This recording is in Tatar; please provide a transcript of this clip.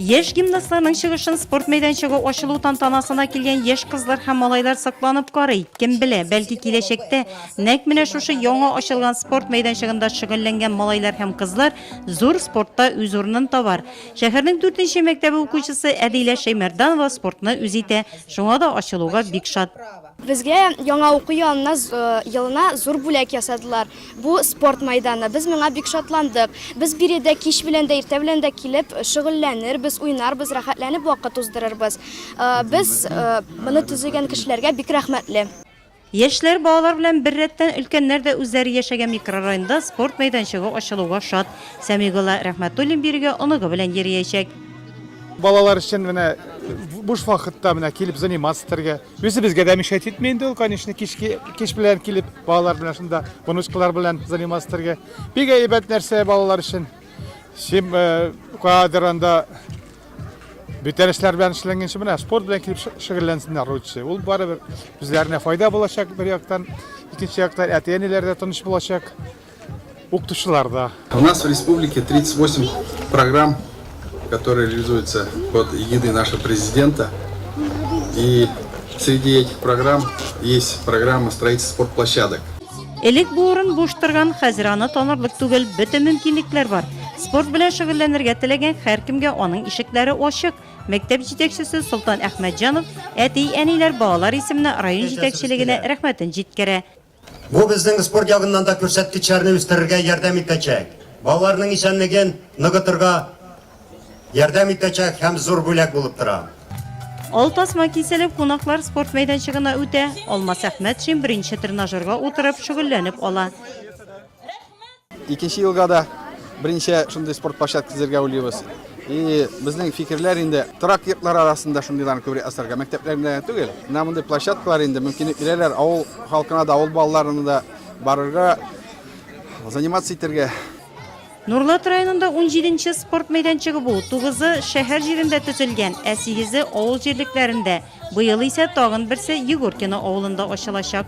Яшь гимнастларның чыгышын спорт мәйданчыгы ачылу тантанасына килгән яшь кызлар һәм малайлар сакланып карый. Кем белә, бәлки киләчәктә нәк менә шушы яңа ачылган спорт мәйданчыгында шөгыльләнгән малайлар һәм кызлар зур спортта үз урынын табар. Шәһәрнең 4 нче мәктәбе укучысы Әдилә Шәймәрданова спортны үз итә. Шуңа да ачылуга бик шат. Безгә яңа уку елына, елына зур бүләк ясадылар. Бу спорт майданы. Без моңа бик шатландык. Без биредә кич белән дә, иртә белән дә килеп шөгыльләнербез, уйнарбыз, рәхәтләнеп вакыт уздырырбыз. Без моны төзегән кешеләргә бик рәхмәтле. Яшьләр, балалар белән беррәттән өлкәннәр дә үзләре яшәгән микрорайонда спорт мәйданчыгы ачылуга шат. Сәмигулла Рәхмәтуллин бирегә оныгы белән йөриячәк. Балалар өчен менә буш вакытта менә килеп заниматься итәргә. Үзебезгә дә мишәт итми инде ул, конечно, кичке кич белән килеп, балалар белән шунда внучкалар белән заниматься итәргә. Бик әйбәт нәрсә балалар өчен. Сим э, кадр анда бүтән эшләр белән эшләнгән менә спорт белән килеп шө- шөгыльләнсеннәр лучше. Ул барыбер үзләренә файда булачак бер яктан, икенче яктан әти-әниләр дә тыныч булачак. Укытучылар да. У нас в республике 38 программ, которые реализуются под эгидой нашего президента. И среди этих программ есть программа строительства спортплощадок. Элек бу урын буш торган, хәзер аны танырлык түгел, бөтен мөмкинлекләр бар. Спорт белән шөгыльләнергә теләгән һәркемгә аның ишекләре ачык. Мәктәп җитәкчесе Солтан Әхмәтҗанов әти-әниләр балалар исеменә район җитәкчелегенә рәхмәтен җиткерә. Бу безнең спорт ягыннан да күрсәткечләрне үстерергә ярдәм итәчәк, балаларның исәнлеген ныгытырга ярдәм итәчәк һәм зур бүләк булып тора. Ал тасма киселеп, кунаклар спорт мәйданчыгына үтә. Алмас Әхмәтшин беренче тренажерга утырып, шөгыльләнеп ала. Икенче елга да беренче шундый спорт площадкасы төзергә уйлыйбыз. И безнең фикерләр инде торак йортлар арасында шундыйлар күбрәк асарга. Мәктәпләрендә түгел. Менә мондый площадкалар инде мөмкинлек бирәләр. Авыл халкына да, авыл балаларына да барырга, заниматься итәргә. Нурлат районында 17 спорт мәйданчыгы бу, 9-ы шәһәр җирендә төзелгән, ә 8-е авыл җирлекләрендә. Быел исә тагын берсе Егоркино авылында ачылачак.